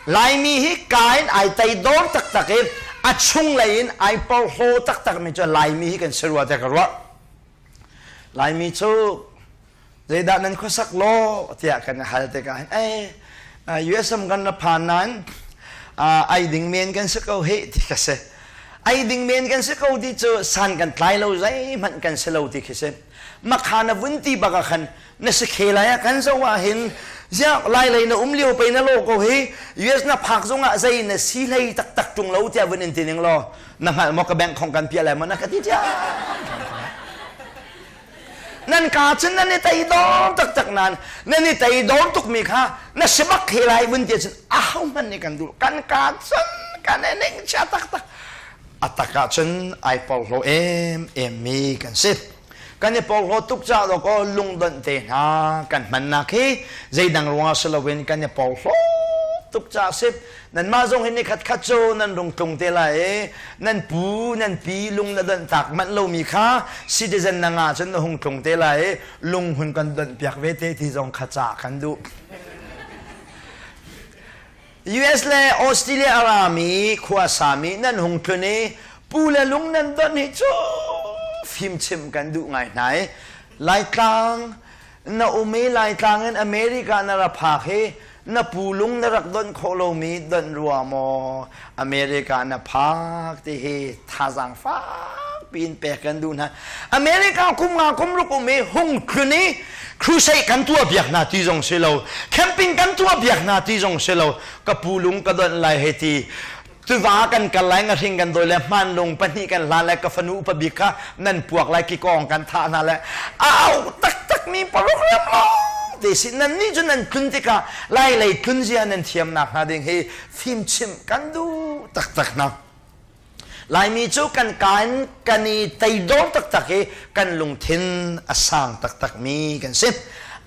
Laimi hi ka in ai tei dawr taktak i a chunglei in ai porhlaw taktakmi cu Laimi hi kan si rua tiah ka ruah. Laimi cu zeidah nan khuasak law tiah kan hal tikah hin USM kan ra phan nain ai ding men kan si ko hei ti ka si. Ai ding men kan si ko ti cu san kan tlai lo zeihmanh kan si lo ti khi si. Makha na vun ti baka khan na si khe lai ah kan zoh ah hin ziak lailei na um lio pei na lo ko hi US na phak zong ah zei na si hlei taktak tung lo tiah vun in ti ning law na hngalh maw ka bank khong kan piah lai maw na ka ti tiah nan ka cun nan i tei dom taktak nan nan i tei dom tukmi kha na sebak he lai vun ti cun a ho hman nih kan dul kan ka cun kan e ning cha taktak atak ah cun ai pau hlo em em mi kan si kan i porhlaw tuk caah lo kaw lungdonh te hna kan hmannak hi zeidang ruangah si loin kan i porhlaw tuk caah sip nanmah zong hi ni khat khat cu nan rung tlung te lai i nan pu nan pi lung na donh tak manh lomi kha citizen na nga cun na hung tlung te lai i lung hun kan donh piak ve te ti zong kha ca kan duh US le Australia a rami khuasami nan hung tlun i pu le lung nan don hi cu fimchim kan duh ngai hna i Laitlang na um i Laitlang in America na ra phak hi na pu lung na rak don khawh lomi don rua maw America na phak ti hi thazaang fak piin pek kan duh hna America kum nga kum ruk um i hung tlun i crusade kan tuah biak hna ti zong si lo camping kan tuah biak hna ti zong si lo ka pu lung ka donh lai hei ti tuva kan kal lai nga hring kan dawi le hman lung pahnih kan hlan lai ka fanu upa bik kha nan puak lai ki kong kan thah hna le au taktak mi paruk lem lo te si nan ni cu nan tlun tikah lai lei tlun zia nan thiam nak hna ding hei fim chim kan du taktak na Laimi cu kan ka in kan i teidor taktak i kan lungthin a sang taktakmi kan si.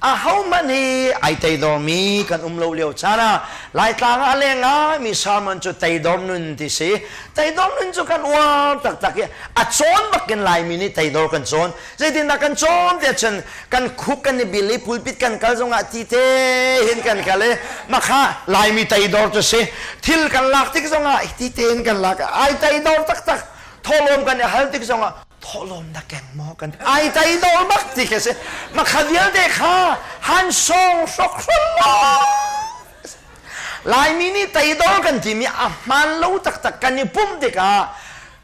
A hohmanh hi ai teidormi kan um lo lio caan ah Laitlang ah leng ngaimi sermon cu teidor nun ti si. Teidor nun cu kan uar taktak i a cawn bakin Laimi nih teidor kan cawn. zeitindah kan cawm te chun kan khuk kan i bil i pulpit kan kal zongah ti te hin kan kal i makha laimi tei dor cu si thil kan lak tik zongah ti te hin kan lak ai tei dor taktak tholom kan i hal tik zongah tholom na keng maw kan ai tei dor bak ti ke si makha vialte kha han song hrok hrolo laimi nih tei dor kan timi a hman lo taktak kan i pumh tikah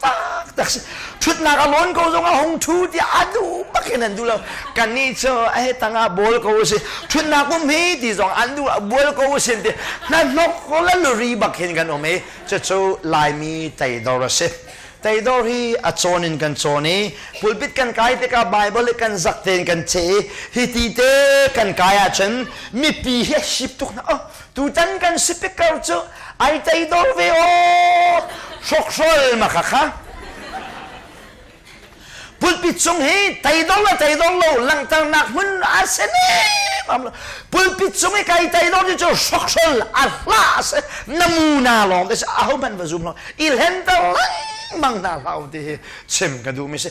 taktak si ṭhutnak a lawn ko zong a hung ṭhu tiah a duh bak in an duh lo kannih cu a he tangah bawl ko u si ṭhutnak um hi ti zong an duh bual ko u sin ti hnahnok lalri bak hin kan um i cucu laimi teidor a si teidor hi a cawn in kan cawn i pulpit kan kai tikah bible i kan zak tein kan ce i hi ti te kan kai ahcun mipi hi a sip tuk na oh tutan kan speaker cu ai tei dor ve aw hrokhrol ma kha kha pulpit cung hi tei dor le tei dor lo langhternak hmun a si nem pulpit cung i kai tei dor cu hrokhrol a hla se namuna lawng te se ahohmanh va zum lo i hlenter lengmang hna hlah u ti hi chim ka duh mi si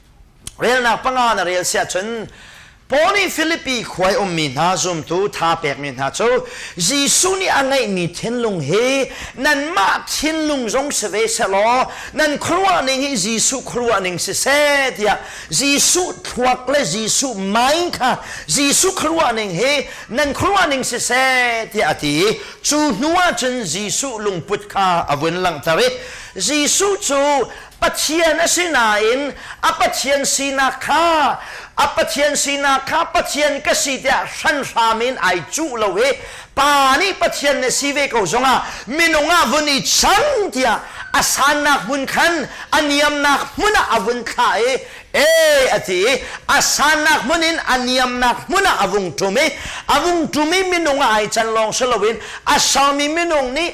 Relnak panga na rel siah cun Paul nih Filipi khuai ummi hna zumtu tha pekmi hna cu Jesuh nih a ngeihmi thinlung hi nanmah thinlung zong si ve sehlaw nan khuaruahning hi Jesuh khuaruahning si seh tiah Jesuh thluak le Jesuh mind kha Jesuh khuaruahning hi nan khuaruahning si seh tiah a ti cu hnu ah cun Jesuh lungput kha a vun langhter i Jesuh cu Pathian a si nain a Pathian sinak kha a Pathian sinak kha Pathian ka si tiah hranhram in ai cuh lo i pa nih Pathian na si ve ko zongah minung ah vun i chang tiah a sannak hmun khan a niamnak hmun ah a vun thlah i e a ti i a sannak hmun in a niamnak hmun ah a vung ṭum i a vung ṭum i minung ah ai can lawng si loin a salmi minung nih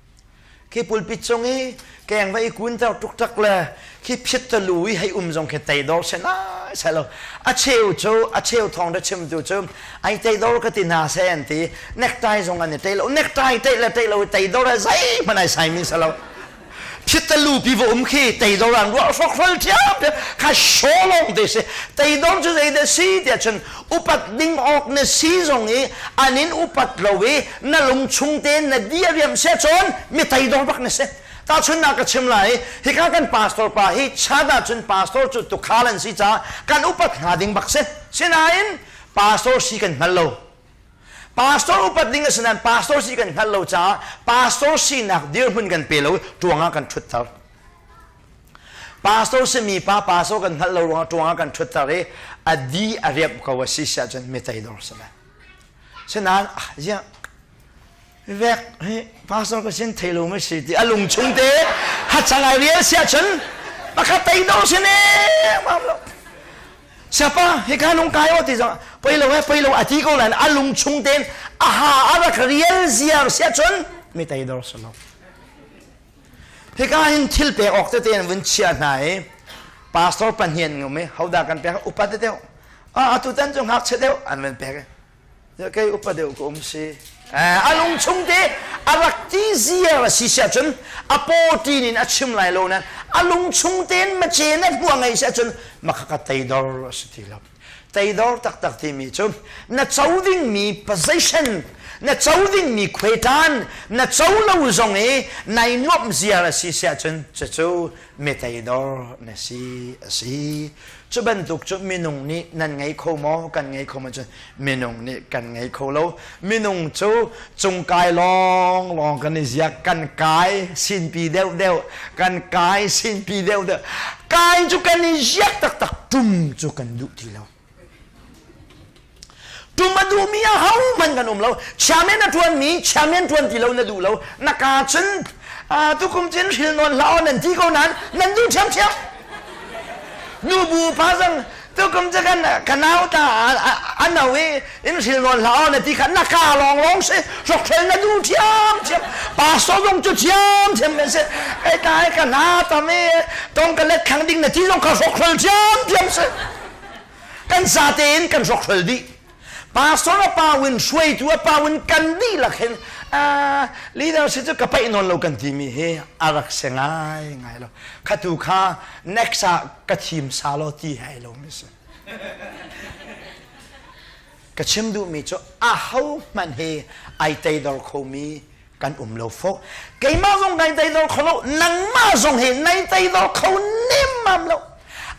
khi pulpit cung i keng va i kun ter tuktak le khi phiat te lu i hei um zong khi tei dor se na sai lo a cheu cu a cheu thong de chim tu cu ai tei dor ka ti hna se an ti nektai zong an i tei lo nektai tei le tei lo i tei dor a zei man ai sai mi sa lo phiat te lu pi va um khi tei dor an ruah hrok hrol thiam thiam kha sholong te se tei dor cu zei de si ti ahcun upat ding awk ne si zong i anin upat lo i na lung chung tein na di riam se cun mi thei dor bak na si tahchun na ka chim lai hika kan pastor pa hi chan ahcun pastor cu tukhal an si caah kan upat hna ding bak si sinain pastor si kan hngal lo pastor upat ding a si nain pastor si kan hngal lo caah pastor sinak dirhmun kan pe lo tuangah kan ṭhutter pastor si mi pa pastor kan hngalh lo ruangah tuangah kan ṭhutter i a di a riamh ko a si siah cun mi tei dor si lai Sinain ah ziah vek hi pastor ka sin theilo mai si ti a lung chung te hatsangai rial sia chun pakhat tei do sin e mam lo siapa hi ka lung kai o ti zong poi lo he poi lo ati ko lan a lung chung ten a ha a rak rial ziar sia chun mi tei do solo Hika hin thil pe awk tete in vun chia hna i pastor pahnih an um i hodah kan pek upat tete ah atu tan cu ngakchia deuh an van pek i kei upat deuh ka um si a lung chung te a rak ti ziar a si siah cun a pawtin in a chim lai lo na a lung chung tein ma ce na hua ngei siah cun makha ka teidor a si ti lo Teidor taktak timi cu na co dingmi possession, na co dingmi khuetan, na co lo zong i nai nuamh ziar a si si ahcun cucu meteidor na si a si. Cu bantuk cu minung nih nan ngei kho maw kan ngei kho maw cun minung nih kan ngei kho lo. minung cu cung kai lawnglawng kan i ziak kan kai sinpi deuhdeuh kan kai sinpi deuhdeuh kai cu kan i ziak taktak tum cu kan duh ti lo tum a duhmi a hohmanh kan um lo chairman a ṭuanmi chairman ṭuan ti lo na duh lo na ka cun tukum cin hril nawn hla nan ti ko nan nan duh ṭhiamṭhiam nu bu pa zang tukum cu kan kan nau ta an no i in hril nawn hlau na ti kha na ka long long si hrok hrel na du thiam thiam pastor zong cu thiam thiam men si ai ta ai ka na tam i tong ka let khang ding na ti zong kha hrok hrel thiam thiam si kan sa te in kan hrok hrel dih pastor a pa in hruaitu a pa in kan dihlak hin ah leadership cu ka paih nawn lo kan timi hi a rak se ngai ngai lo khatu kha next ah ka thim sa lo ti hai lo mi si ka chim duhmi cu aho hmanh he ai teidor khomi kan um lo fo keimah zong nai teidor kho lo nangmah zong he nai teidor kho nemmam lo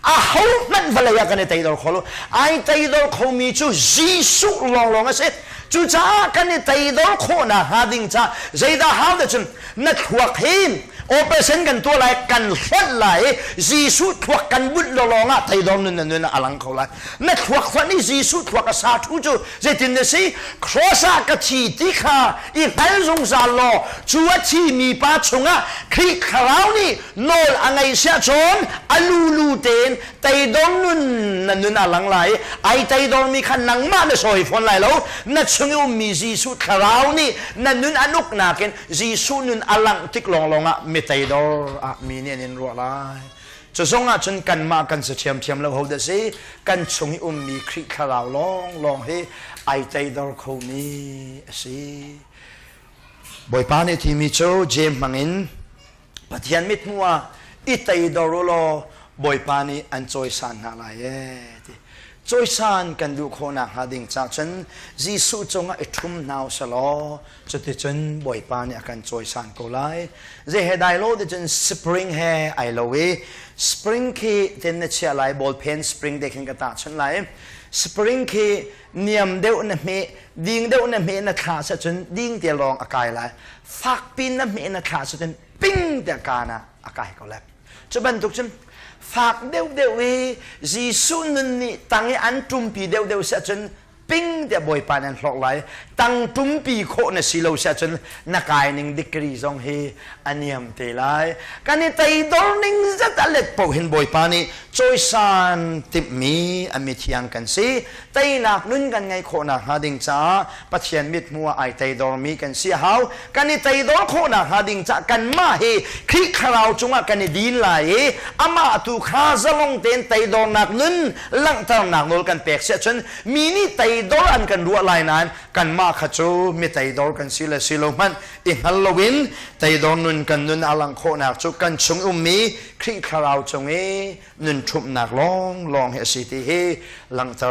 a ho hmanh vale ah kan i teidor kho lo ai teidor kho mi cu Jesuh lawnglawng a si cucaah kan i teidor khawh na hnga ding ca zeidah hau te cun na thluak hin operation kan tuah lai kan hlonh lai i Jesuh thluak kan bunh lo lawngah teidor nun na nun a lang kho lai na thluak fanh i Jesuh thluak a sa thu cu zeitin na si cross ah ka thi ti kha i hngal zungzal law cu a thimi pa chungah Khrih thlarau nih nawl a ngei siah cun a lulu tein teidor nun na nun a lang lai ai teidor mi kha nangmah na sawi fawn lai lo na chung i ummi Jesuh thlarau nih na nun a nuk nakin Jesuh nun a langh tik lawnglawng ah mi teidor ah mi nih an in ruah lai Cu zong ahcun kanmah kan si ṭhiamṭhiam lo hodah si, kan chung i ummi Khrih thlarau lawnglawng hi ai tleidor khomi a si. Bawipa nih thimi cu Jeim hmangin Pathian mithmuh ah i teidor u law Bawipa nih an cawisan hna lai ee ti. Cawisan kan duh khawh nakhnga ding cah cun Jesuh cungah i ṭhum hna u sih law Cuticun Bawipa nih a kan cawisan ko lai. Zei he dai lo ticun spring he ai lo i spring khi tin na chiah lai ball pen spring te khin ka tahchunh lai. Spring khi niam deuh na hme ding deuh na hme na thla sa cun ding te lawng a kai lai. Fak pin na hme na thla sa cun ping te kana a kai ko lai. Cu bantuk cun fak deuh deuh i Jesuh nun nih tang i an ṭumpi deuh deuh si cun ping tiah bawipa nih an hlorh lai tangtum pi khawh na si lo si ahcun na kai ning degree zong hi a niam te lai kan i teidor ning zat a let paoh hin bawipa nih cawisan timhmi a mithiang kan si teinak nun kan ngeih khawh nakhnga ding caah pathian mit hmu ah ai teidormi kan si a hau kan i teidor khawh nakhnga ding caah kanmah hi Khrih thlarau cungah kan i din lai i amah tu kha zalong tein teidornak nun langhternak nawl kan pek si ahcun mi nih teidor an kan ruah lai nain kanmah kha cu mi teidor kan si le si lo hmanh i hngal loin teidor nun kan nun a langh khawhnak cu kan chung ummi Khrih Thlarau cung i nun ṭhumhnak lawnglawng hi a si ti hi langhter